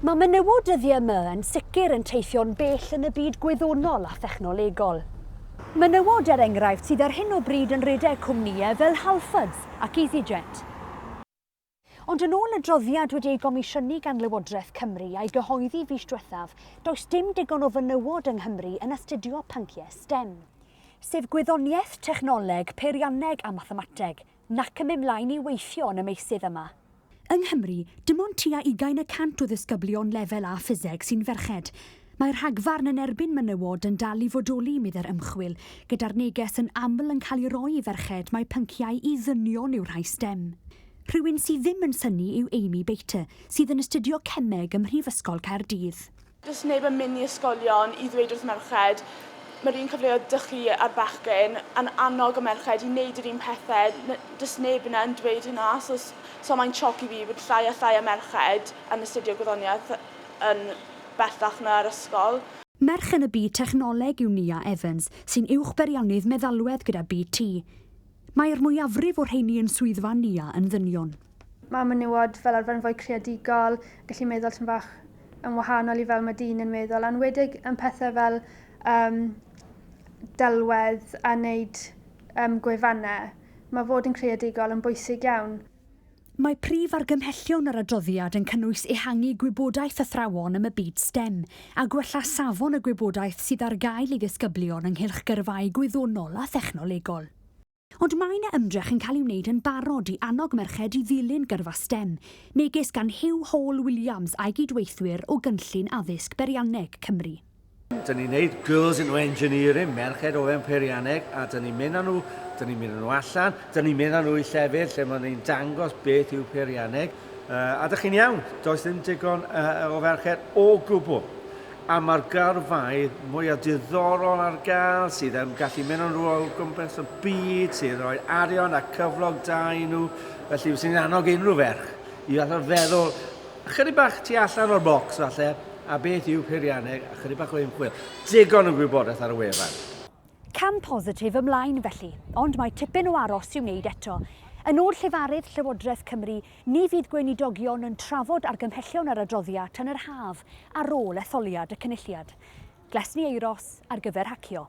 Mae menywod dyddiau yma yn sicr yn teithio'n bell yn y byd gwyddonol a thechnolegol. Menywod, er enghraifft, sydd ar hyn o bryd yn rhedeg cwmnïau fel Halfords ac Easyjet. Ond yn ôl adroddiad wedi ei gomisiynu gan Lywodraeth Cymru a'i gyhoeddi fis diwethaf, does dim digon o fenywod yng Nghymru yn astudio pynciau stem, sef gwyddoniaeth, technoleg, peirianneg a mathemateg, nac yn mynd mlaen i weithio yn y meysydd yma. Yng Nghymru, dim ond tua ugain y cant o ddisgyblion Lefel A Ffiseg sy'n ferched. Mae'r rhagfarn yn erbyn menywod yn dal i fodoli, meddai'r ymchwil, gyda'r neges yn aml yn cael ei roi i ferched mai pynciau i ddynion yw rhai stem. Rhywun sydd ddim yn synnu yw Amy Bater, sydd yn astudio cemeg ym Mhrifysgol Caerdydd. Does neb yn mynd i ysgolion i ddweud wrth merched, mae'r un cyfleoedd 'da chi a'r bechgyn, yn annog y merched i wneud yr un pethe, n- does neb yna yn dweud hynna, so s- so mae'n sioc i fi bod llai a llai o merched yn astudio gwyddoniaeth yn bellach na ar ysgol. Merch yn y byd technoleg yw Nia Evans, sy'n uwchbeiriannydd meddalwedd gyda BT. Mae'r mwyafrif o'r rheiny yn swyddfa Nia yn ddynion. Mae menywod fel arfer yn fwy creadigol, gallu meddwl tyn fach yn wahanol i fel mae dyn yn meddwl, a'n wedig yn pethau fel um, delwedd a wneud um, gwefannau. Mae fod yn creadigol yn bwysig iawn. Mae prif argymhellion yr adroddiad yn cynnwys ehangu gwybodaeth athrawon am y byd STEM a gwella safon y gwybodaeth sydd ar gael i ddisgyblion ynghylch gyrfaau gwyddonol a thechnolegol. Ond mae 'na ymdrech yn cael ei wneud yn barod i annog merched i ddilyn gyrfa stem, megis gan Huw Hall Williams a'i gydweithwyr o Gynllun Addysg Beirianneg Cymru. Dyn ni'n neud Girls into Engineering, merched o fewn peirianneg, a dyn ni'n mynd â nhw, dyn ni'n mynd â nhw allan, dyn ni'n mynd â nhw i llefydd lle maen ni'n dangos beth yw peirianneg, a dych chi'n iawn, does ddim digon o ferched o gwbl. A mae'r gyrfaoedd mwyaf diddorol ar gael sydd yn gallu mynd yn ôl gwmpas y byd, sy'n rhoi arian a cyflog da i nhw, felly fyswn i'n annog unrhyw ferch i falle feddwl ychydig bach tu allan o'r bocs falle, a beth yw peirianneg, ychydig bach o ymchwil, digon o gwybodaeth ar y wefan. Cam positif ymlaen felly, ond mae tipyn o aros i'w wneud eto. Yn ôl llefarydd Llywodraeth Cymru, Ni fydd Gweinidogion yn trafod argymhellion yr adroddia tan yr haf ar ôl etholiad y Cynulliad. Glesni Euros ar gyfer hacio.